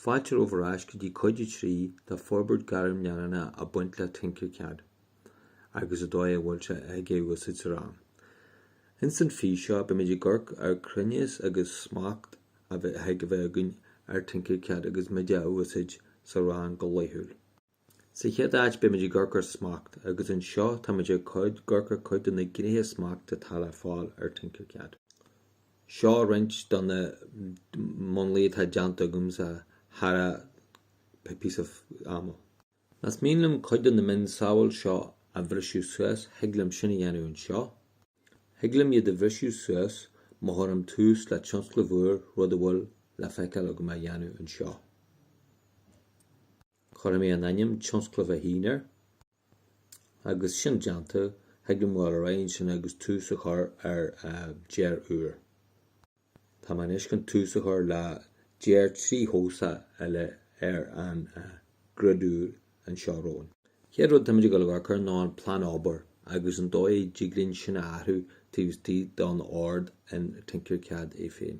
Fáilte romhaibh ar ais go dtí Cuid 3 de forbairt gairm leanúnach ag baint le Tinkercad agus an dóigh a bhfuil sé ag é a úsáid sa rang. Ins an fís seo beimid ag amharc ar chruinneas agus smacht a thig a bheith againn ar Tinkercad agus muid á úsáid sa rang go laethúil. Sa chéad áit, beimid ag amharc ar smacht, agus anseo táimid ag amharc ar chuid de na gnéithe smachta atá le fáil ar Tinkercad. Seo roinnt de na múnlaí atá déanta agamsa thar an píosa ama. Más mian liom cuid de na mionsamhail seo a bhriseadh suas, thig liom sin a dhéanamh anseo. Thig liom iad a bhriseadh suas má chuirim tús le tionscnamh úr, rud a bhfuil le feiceáil agam á dhéanamh anseo. Cuirfidh mé an ainm tionscnamh a haon air, agus sin déanta, thig liom a ghabháil ar aghaidh ansin agus tús a chur ar dearadh úr. Tá mé anois chun tús a chur le dearadh tríthoiseach eile ar an grid úr anseo romhainn. Chéad rud táimid ag dul ag amharc air ná an plean obair agus an dóigh a dtig linn sin a athrú taobh istigh don Ord in Tinkercad é féin.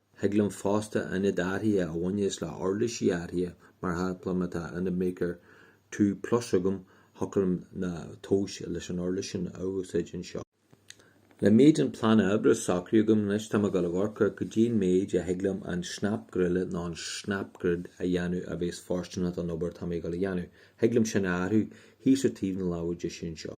Thig liom fosta aonad áirithe a bhaineas le huirlisí áirithe, mar shampla má tá Ultimaker Two Plus agam, shocraím na tomhais leis an uirlis sin a úsáid anseo. Le méid an phlána oibre socraithe agam anois, táim ag dul ag amharc ar go dtí an méid a thig liom an snap greille nó an snap grid a dhéanamh a bhéas fóirsteanach don obair atá mé ag dul a dhéanamh. Thig liom sin a athrú thíos ar taobh na láimhe deise anseo.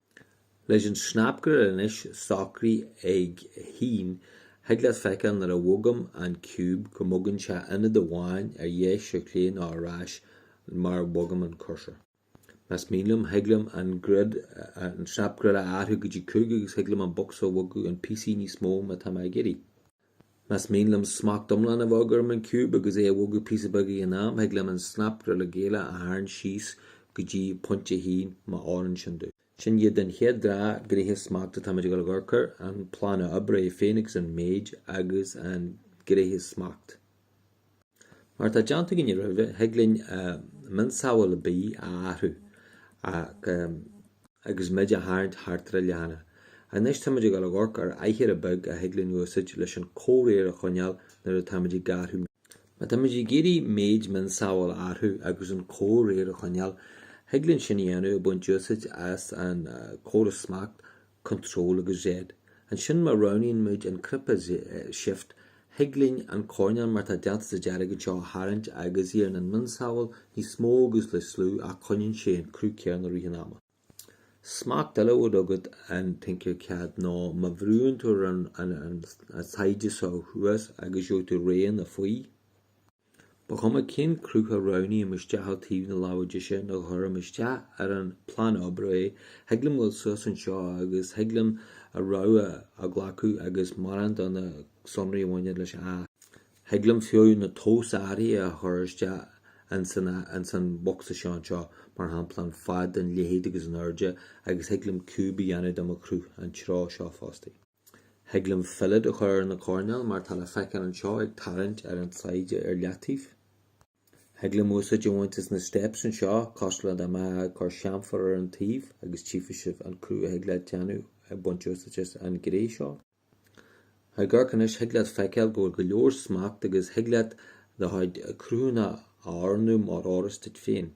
Leis an snap greille anois socraithe ag a haon, thig leat feiceáil nuair a bhogaim an ciúb go mbogann sé aonad amháin ar dheis ar chlé nó ar ais mar a bhogaim an cursor. Más mian liom, thig liom an grid, an snap greille a athrú go dtí cúig agus thig liom an bocsa a bhogadh in píosaí níos mó má tá mé ag iarraidh. Más mian liom smacht iomlán a bheith agam ar an ciúb agus é a bhogadh píosa beag ag an am, thig liom an snap greille a tharraingt síos go dtí pointe a haon, má fhóireann sin domh. Sin iad an chéad dhá ghnéithe smacht atáimid ag dul ag amharc air, an plána oibre é féin agus an méid agus an gnéithe smacht. Mar atá déanta againne roimhe, thig linn mionsamhail ar bith a athrú agus muid á tharraingt thart ar an leathanach. Anois táimid ag dul ag amharc ar aichearra beag a thig linn úsaid leis an comhréir a choinneáil nuair atáimid ag athrú méid. Má táimid ag iarraidh méid mionsamhail a athrú agus an comhréir a choinneáil, thig linn sin a dhéanamh ag baint úsaid as an córas smacht Control agus Z. Ansin má roghnaíonn muid an cnaipe Shift, thig linn an coirneál mar atá déanta sa dearg anseo a tharraingt agus éiríonn an mionsamhail níos mó agus níos lú ach coinníonn sé an cruth céanna rith an ama. Smacht eile a bhfuil agat in Tinkercad ná má bhrúnn tú ar an tsaighead seo thuas agus gheobhaidh tú raon a faoi. Ba chuma cén cruth a roghnaímid isteach ó taobh na láimhe deise nuair a chuirimid isteach ar an bplean oibre é, thig liom dul suas anseo agus thig liom a rogha a ghlacadh agus mórán de na sonraí a bhaineann leis a fháil. Thig liom fiú na tomhais áirithe a chur isteach ins an bhocsa seo anseo, mar shampla an fad, an leithead agus an airde agus thig liom ciúb a dhéanamh de mo chruth an treo seo fosta. Thig liom fillet a chur ar na coirnéil mar tá le feiceáil anseo ag tarraingt ar an tsaighde ar leataobh. Thig liom úsáid a bhaint as na steps anseo, cosúil dá mbeadh ag cur chamfer ar an taobh agus tchífeadh sibh an cruth a thig leat déanamh ag baint úsáid as an ghné seo. Ag amharc anois thig leat feiceáil go bhfuil go leor smacht agus thig leat do chuid cruthanna a athrú mar a oireas duit féin.